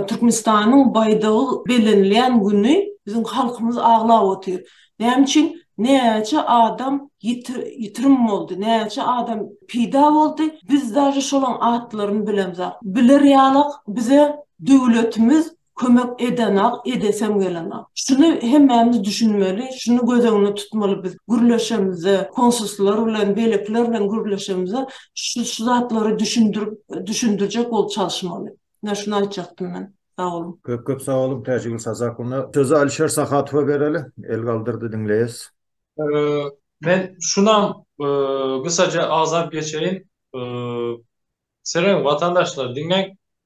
Türkmenistanyň baýdagy bellenilýän güni biziň halkymyz aglap otyr. Näme üçin näçe adam ýitirim boldy, näçe adam peýda boldy, biz daže şolaň atlaryny bilemzok. Biler ýalyk bize döwletimiz kömek edenok, edesem gelenok. Şuny hemmämiz düşünmeli, şuny göz öňünde tutmaly biz gürleşemizde, konsulslar bilen, beýlekiler bilen gürleşemizde şu şu zatlary düşündirip, düşündirjek bolup çalyşmaly. Menä şuny aýtjakdym men. Sag boluň. Köp köp sag boluň Täjigül Sazakowna. Sözi Alişer Sahatowa bereli. El galdyrdy diňleýäs. Men şunam gysaja agzap geçeýin. Seleň watandaşlar diňläň.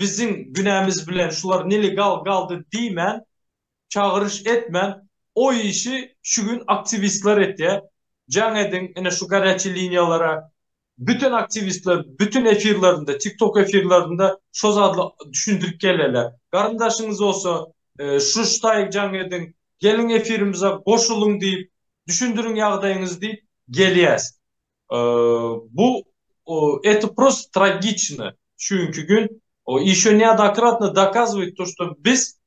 biziň günämiz bilen şular nelegal galdy diýmän, çagyryş etmän, o işi şu gün aktiwistler etýär. Jaň ediň ine şu garýaçy liniýalara. Bütin aktiwistler bütin efirlerinde, tiktok efirlerinde şo zady düşündirip geleler. Garyndaşyňyz bolsa şu ştaýg jaň ediň, geliň efirimize goşulyň diýip, düşündiriň ýagdaýyňyzy diýip gelýäs. Bu eto prosto tragiçno çünki gün ýeşo neodokratno dokazowit to što biz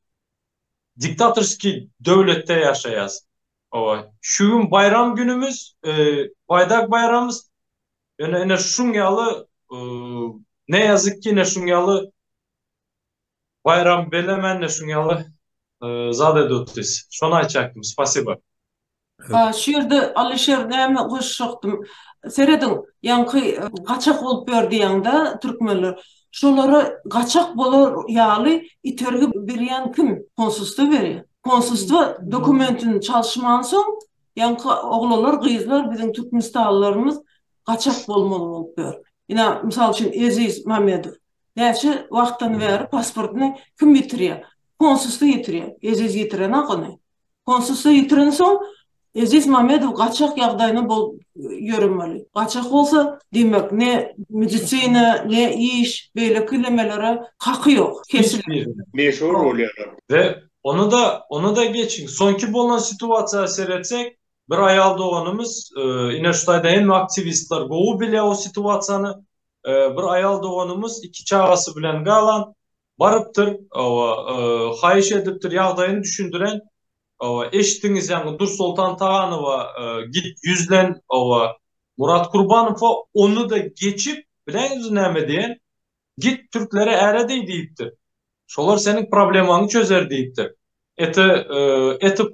diktatorskiý döwletde ýaşaýas owaý şu gün baýram günümiz baýdak baýramys ýöne ine şuň ýaly ne ýazyk ki ine şuň ýaly Baýram belemände şuň ýaly zat edip otyrys. Şony aýtjakdym. Spasiba. A şu ýerde Alyşer näme goşjakdym. Serediň, ýaňky gaçak bolup ýör diýýäňdä türkmenler. Şolara gaçak bolar ýaly itergi berýän kim? Konsulstwa berýär. Konsulstwa dokumentini çalyşmansoň, ýaňky oglanlar, gyzlar biziň türkmenistanlylarymyz gaçak bolmaly bolup ýör. Ine, mysal üçin Eziz Mamedow. Näçe wagtdan bäri pasportyny kim ýitirýär? Konsulstwo ýitirýär. Eziz ýitirenok ony. Konsulstwo ýitirensoň, Eziz Mamedow gaçak ýagdaýynda bolup ýöremeli. Gaçak bolsa, diýmek, ne medisina, ne iş, beýleki nemelere haky ýok. Kesilen. Meşhur bolýarlar. We ony-da, ony-da geçiň. Soňky bolan situasiýa seretsek, bir aýal doganymyz, ine şu taýda hemme aktiwistler gowy bilýär o situasiýany, Bir aýal doganymyz iki çagasy bilen galan, barypdyr, hawa, haýyş edipdir, ýagdaýyny düşündiren, hawa, eşitdiňiz ýaňy Dursoltan Taganowa gidip ýüzlen, hawa, Murat Kurbanowa ony-da geçip, bileňizmi näme diýen, git türklere äre diý diýipdir. Şolar seniň problemaňy çözer diýipdir. Ete, etip,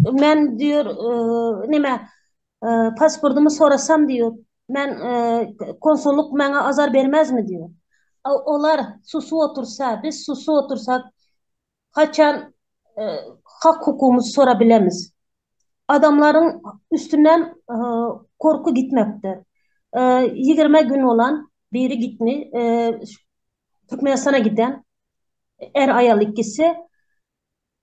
Men diýer, näme, pasportymy sorasam diýer, men konsullyk maňa azar bermezmi diýer. Olar susup otursa, biz susup otursak, haçan hak-hukugymyzy sora bilemiz. Adamlaryň üstünden gorky gitmepdir. Ýigrimi gün bolan biri gitmi, Türkmenistana giden, är-aýal ikisi.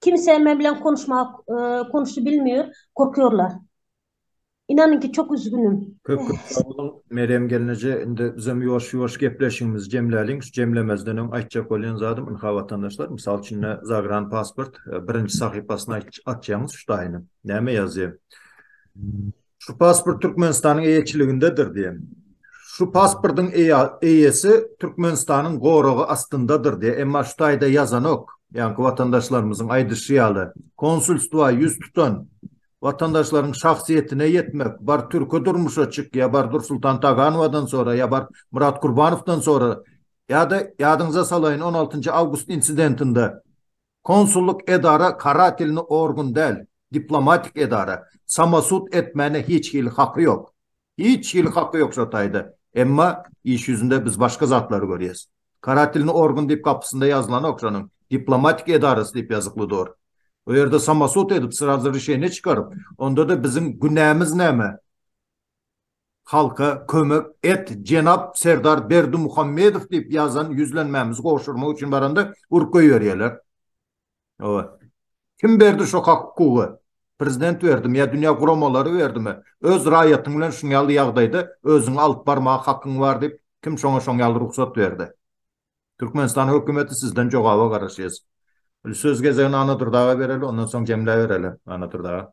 Kimse men bilen konuşmaga konuşy bilmiyor korkuyorlar inanyn ki çok üzgünüm. Köp köp sag boluň Merýem gelneje indi bizem ýuwaş ýuwaş gepleşigimizi jemläliň şu jemlemezden öň aýtjak bolýan zadym ynha watandaşlar mysal üçin ine zagran pasport birinji sahypasyna açýaňyz şu taýynyň näme ýazýa Şu pasport Türkmenistanyň eýeçiligindedir diýen. Şu pasportyň eýesi Türkmenistanyň goragy astyndadyr diýen. Emma şu taýda ýazanok. Ýaňky watandaşlarymyzyň aýdyşy ýaly, konsulstwa ýüz tutan watandaşlaryň şahsyýetine ýetmek, bar türki durmuşa çyk, ýa bar Dursultan Taganowadan sora, ýa bar Murat Gurbanowdan sora, ýa-da ýadyňyza salaýyn on altynjy awgust insidentinde Konsullyk edara karatelny organ däl, diplomatik edara, samosud etmäne hiç hili haky ýok. Hiç hili haky ýok şo taýda. Emma iş ýüzünde biz başga zatlary görýäs. Karatelny organ diýip gapysynda ýazylanok şonuň, diplomatik edarasy diýip ýazykly dur. O ýerde samosud edip srazy rişeniýe çykaryp, onda-da biziň günämiz näme? Halka kömek et jenap Serdar Berdimuhamedow diýip ýazan ýüzlenmämizi gowşurmak üçin baranda urk goýberýärler. Hawa. Kim berdi şo hak hukugy? Prezident berdimi ýa dünýä guramalary berdimi? Öz raýatyň bilen şuň ýaly ýagdaýda özüňi alyp barmaga hakyň bar diýip kim şoňa şoň ýaly rugsat berdi? Türkmenistan hökümeti sizden jogaba garaşýas. Söz gezegini Anadurdaga bereli ondan soň jemläbereli Anadurdaga.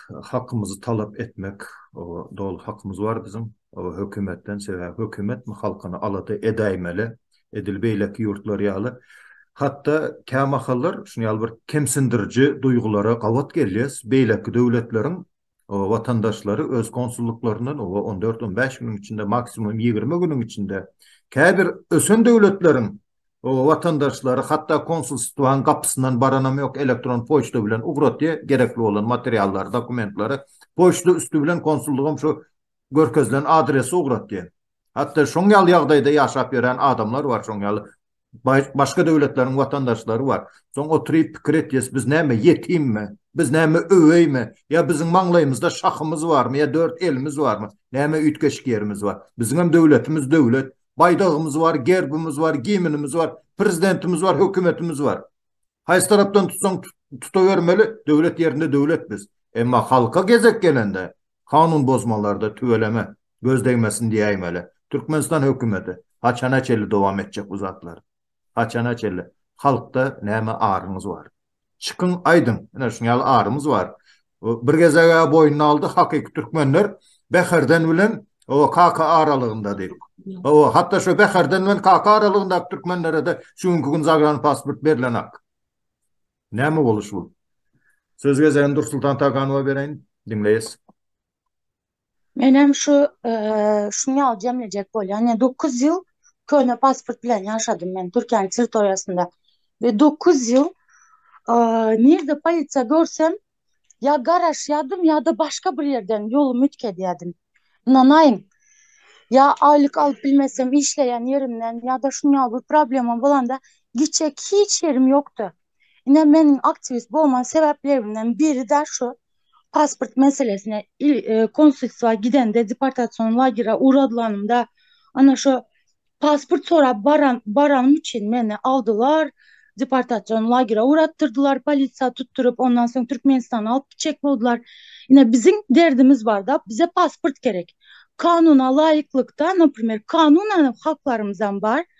hakymyzy talap etmek doly hakymyz bar biziň hökümetden sebäbi hökümet mi halkyny alada edäýmeli edil beýleki ýurtlar ýaly hatda kämahallar şun ýaly bir kemsindiriji duýgulara gabat gelýäs beýleki döwletleriň watandaşlary öz konsullyklaryndan oba on dört on bäş günüň içinde maksimum ýigrimi günüň içinde käbir ösen döwletleriň O watandaşlary hatda konsulstwanyň gapysyndan baranam ýok, elektron poçta bilen ugratýar, gerekli bolan materiallary, dokumentlary poçta üsti bilen konsullygam şu görkezilen adrese ugratýar. Hatda şoň ýaly ýagdaýda ýaşap ýören adamlar bar, şoň ýaly başga döwletleriň watandaşlary bar. Soň oturyp pikir etýäs, biz näme ýetimmi? Biz näme öweými? Ýa biziň maňlaýymyzda şahymyz barmy ýa dört elimiz barmy? Näme üýtgeşik ýerimiz bar? Biziňem döwletimiz döwlet, Baýdagymyz bar, gerbimiz bar, gimnimiz bar, prezidentimiz bar, hökümetimiz bar. Haýsy tarapdan tutsaň tutabermeli, döwlet ýerinde döwlet biz. Emma halka gezek gelende, kanun bozmalarda tüweleme, göz degmesin diýäýmeli. Türkmenistan hökümeti, haçana çenli dowam etjek bu zatlar? Haçana çenli? Halkda näme aryňyz bar? Çykyň aýdyň, ine şuň ýaly arymyz bar. Bir gezeg-ä boýnuna aldy, hakyky türkmenler Bäherden bilen o Kaka aralygynda diýip. O, hatda şo Bäherden bilen Kaka aralygyndaky türkmenlere-de şu günki gün zagranipasport berlenak. Näme boluş bu? Söz gezegini Dursultan Taganowa bereýin, diňleýäs. Menem şu şuny ýaly jemlejek bolýan. Ýa dokuz ýyl köne pasport bilen ýaşadym men Türkiýäniň territoriýasynda. Ve dokuz ýyl nirde polisiýa görsem ýa garaşýadym ýa-da başga bir ýerden ýolumy üýtge edýädim. Ynanaýyň. Ýa aýlyk alyp bilmesem işleýän ýerimden ýa-da şuny ýaly bir problema bolanda giçjek hiç ýerim ýokdy. Ine meniň aktiwist bolma sebäplerimden biri-de şu pasport meselesine il e, konsulstwa gidende deportasion lagera ugradylanymda ana şu pasport sorap baran baranym üçin meni aldylar deportasion lagera uratdyrdylar polisiýa tutduryp ondan soň Türkmenistana alyp gitjek boldular. Ine biziň derdimiz barda bize pasport gerek. Kanuna laýyklykda, naprimýer, kanunan haklarymyzam bar.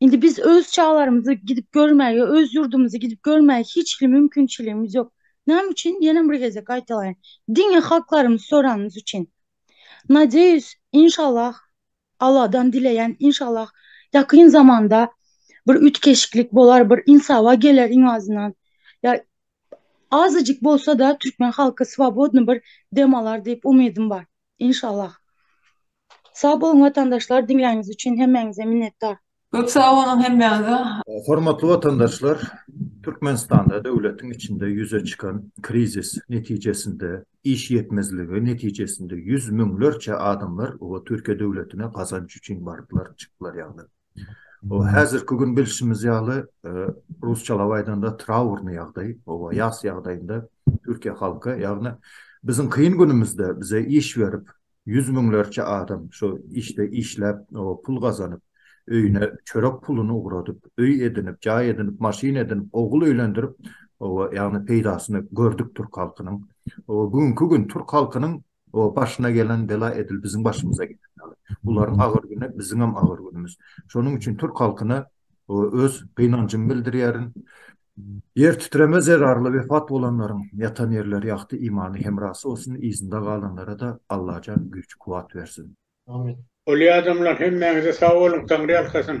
Indi biz öz çagalarymyzy gidip görmäge, öz ýurdumyzy gidip görmäge hiç hili mümkinçiligimiz ýok. Näme üçin? Ýene bir gezek gaýtalaýyn. Diňe halklarymyzy soranymyz üçin. Nadeýus, inşallah, Alladan dileýän, inşallah, ýakyn zamanda bir üýtgeşiklik bolar, bir ynsawa geler iň azyndan. Ýa azajyk bolsa-da türkmen halky swobodny bir dem alar diýip umydym bar. Inşallah. Sag boluň watandaşlar diňläniňiz üçin hemmäňize minnetdar. Köp sag boluň hemmäňize. Hormatly watandaşlar Türkmenistanda döwletiň içinde ýüze çykan krizis netijesinde iş ýetmezligi netijesinde ýüz müňlerçe adamlar oba Türkiýe döwletine gazanç üçin baryplar çykdylar ýagny oba häzirki gün bilşimiz ýaly rusçalap aýdanda traurny ýagdaý oba ýas ýagdaýynda Türkiýe halky ýagny biziň kyn günümizde bize iş berip Ýüz müňlerçe adam şu işde işläp, pul gazanyp, öýüne çörek puluny ugradyp, öý edinip, jaý edinip, maşyn edinip, ogul öýlendirip, oba, ýagny peýdasyny gördük türk halkynyň. Oba, bu günki gün türk halkynyň o başyna gelen bela edil biziň başymyza geldi. Bularyň agyr güni biziňem agyr günümiz. Şonuň üçin türk halkyna öz gynanjymy bildirýärin. Ýer titreme zerarly wepat bolanlaryň ýatan ýerleri ýagty imany hemrasy bolsun yzynda galanlara-da Allajan güýç kuwat bersin. Amin. Uly adamlar hemmäňize sag boluň Taňry ýalkasyn.